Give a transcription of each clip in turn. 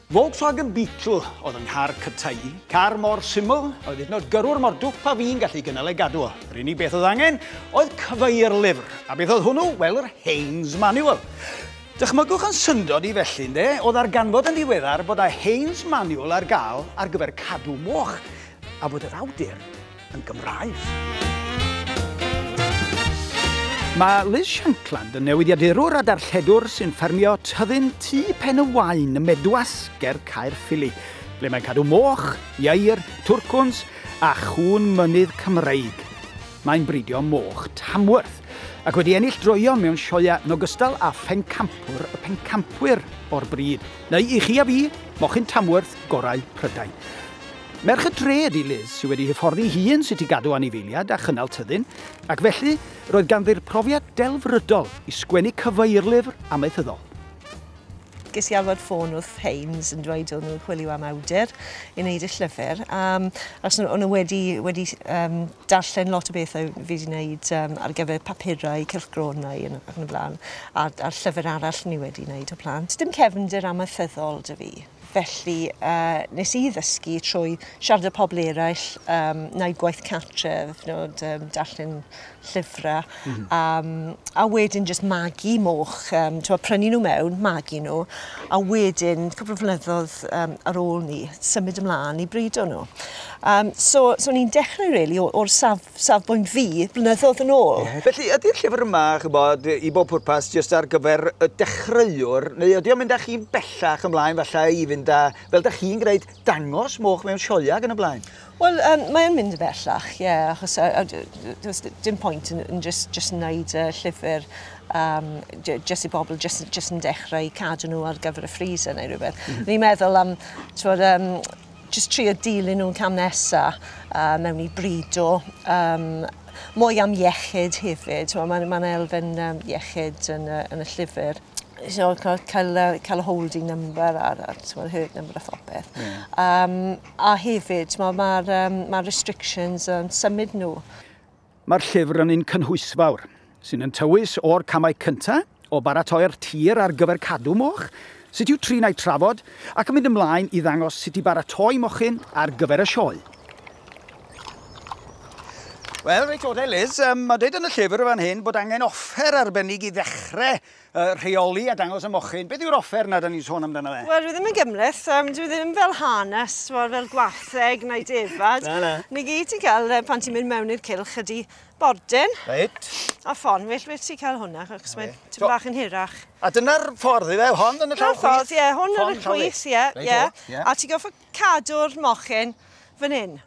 Volkswagen Beetle oedd yng nghar cyntaf i. Car mor syml oedd hyd nod gyrrwr mor dwp a fi'n gallu gynnal ei gadw o. Yr unig beth oedd angen oedd cyfeir lyfr. A beth oedd hwnnw? Wel, yr Haynes Manual. Dychmygwch yn syndod i felly, ynde? O ddarganfod yn ddiweddar bod a Haynes Manual ar gael ar gyfer cadw moch, a bod yr awdur yn Gymraeg. Mae Liz Shankland yn newidiadurwr a darlledwr sy'n ffermio tyddyn tu pen y wain ym Medwas ger Caerffili, ble mae'n cadw moch, ieir, twrcwns a chŵn mynydd Cymreig. Mae'n bridio moch Tamworth, ac wedi ennill droeon mewn sioeau yn ogystal â phencampwr y pencampwyr o'r bryd, neu i chi a fi, mochyn Tamworth gorau Prydain. Merch y dre ydi Liz, sydd wedi hyfforddi hi yn sut i gadw anifeiliad a chynnal tyddyn, ac felly, roedd ganddi'r profiad delfrydol i sgwennu cyfeirlyfr amaethyddol. Ges i alwad ffôn o'r Thames yn dweud o'n nhw'n chwilio am awdur i wneud y llyfr, um, achos o'n nhw wedi, wedi um, darllen lot o bethau fi wedi wneud um, ar gyfer papurau, cylchgronau yn, ac yn y blaen, a'r, ar llyfr arall ni wedi wneud o plant. Dim cefnder amaethyddol dy fi. Felly uh, nes i ddysgu trwy siarad â pobl eraill, um, na'i gwaith cartref, nod, um, darllen llyfrau. Mm. Um, a wedyn jyst magu moch, um, ti'n prynu nhw mewn, magu nhw, a wedyn, cwpl o flynyddoedd um, ar ôl ni, symud ymlaen i brido nhw. Um, so, so ni'n dechrau, really, o'r saf, safbwynt fi, blynyddoedd yn ôl. Yeah. Felly, ydy'r llyfr yma, chybod, i bob pwrpas, jyst ar gyfer y dechreuwr, neu ydy o'n mynd â chi'n bellach ymlaen, falle i fynd â, fel da chi'n gwneud, dangos moch mewn sioia ac yn y blaen? Wel yym mae'n mynd yn bellach ie achos yy a d- d- does d- dim pwynt yn yn jyst jyst yn neud yy llyfr yym j- jyst i bobl jyst yn jyst yn dechrau i cadw nhw ar gyfer y freezer neu rywbeth. O'n i'n meddwl am t'mod yym jyst trio dilyn nhw'n cam nesa yy mewn i brido yym mwy am iechyd hefyd t'mo' ma'n ma'n elfen yym iechyd yn y yn y llyfr you know ca- cael yy cael y holding number a'r a'r t'mod herd number a phopeth. Ie. Yym. A hefyd, mae'r ma um, ma restrictions yn um, symud nhw. Mae'r llyfr yn un cynhwysfawr, sy'n yn tywys o'r camau cyntaf o baratoi'r tir ar gyfer cadw moch, sut yw trin a'i trafod, ac yn mynd ymlaen i ddangos sut i baratoi mochyn ar gyfer y sioe. Wel, reit o Liz, um, mae dweud yn y llyfr fan hyn bod angen offer arbennig i ddechrau y rheoli a dangos y mochyn. Beth yw'r offer na da ni'n sôn amdano fe? Wel, dwi ddim yn gymleth, um, dwi ddim fel hanes, wel, fel gwartheg neu defad. na, na. Ni gyd ti'n cael, uh, pan ti'n mynd mewn i'r cilch ydi bordyn. Reit. A ffon, well, well ti'n cael hwnna, achos mae'n so, bach yn hirach. A dyna'r ffordd i fe, hon yn y llaw chwith? ffordd, ie, hwn yn y chwith, ie, ie. A ti'n goffa cadw'r mochyn fan hyn.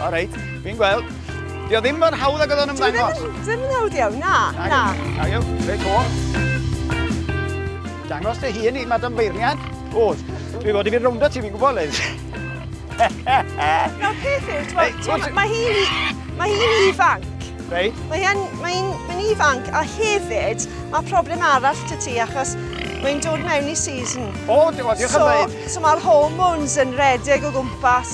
O reit, fi'n gweld. Dio ddim mor hawdd ag oedd o'n ymddangos. Dio ddim yn hawdd iawn, na, na. Na, iawn, reit o. Dangos dy hun i Madam Beirniad. O, dwi fod i fi rownd o ti, fi'n gwybod, Liz. Na, peth yw, mae hi, mae hi ifanc. Reit. Mae hi'n mae hi, mae hi ifanc, a hefyd, mae problem arall dy ti, achos mae'n dod mewn i season. O, diolch yn dweud. So, so mae'r hormones yn redeg o gwmpas.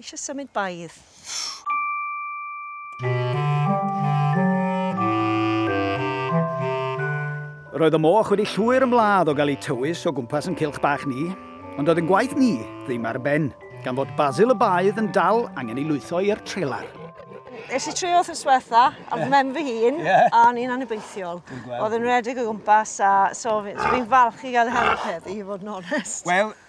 Eisiau symud baidd. Roedd y moch wedi llwyr ymladd o gael ei tywys o gwmpas yn cilch bach ni, ond oedd yn gwaith ni ddim ar ben, gan fod Basil y Baedd yn dal angen ei lwytho i'r trelar. Es i trio wrth yswetha, a yeah. mem fy hun, yeah. a ni'n anobeithiol. Oedd yn redig o gwmpas, a so fi'n fi falch i gael help heddi, i fod yn onest. Wel,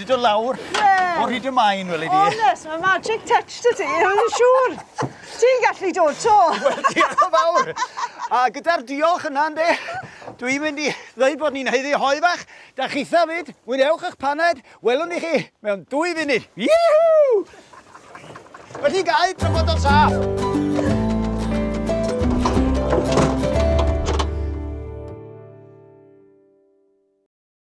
'di dod lawr o hyd y maen, weli di. O, nes, mae magic touch dy ti, yn siŵr. Ti'n gallu dod to. Wel, diolch yn fawr. A gyda'r diolch yna, ynddi, dwi'n mynd i ddweud bod ni'n heiddi hoi fach. Da chi fyd, mwynhewch eich paned, welwn i chi mewn dwy funud. Ihu! Felly gael trafod o'n saff.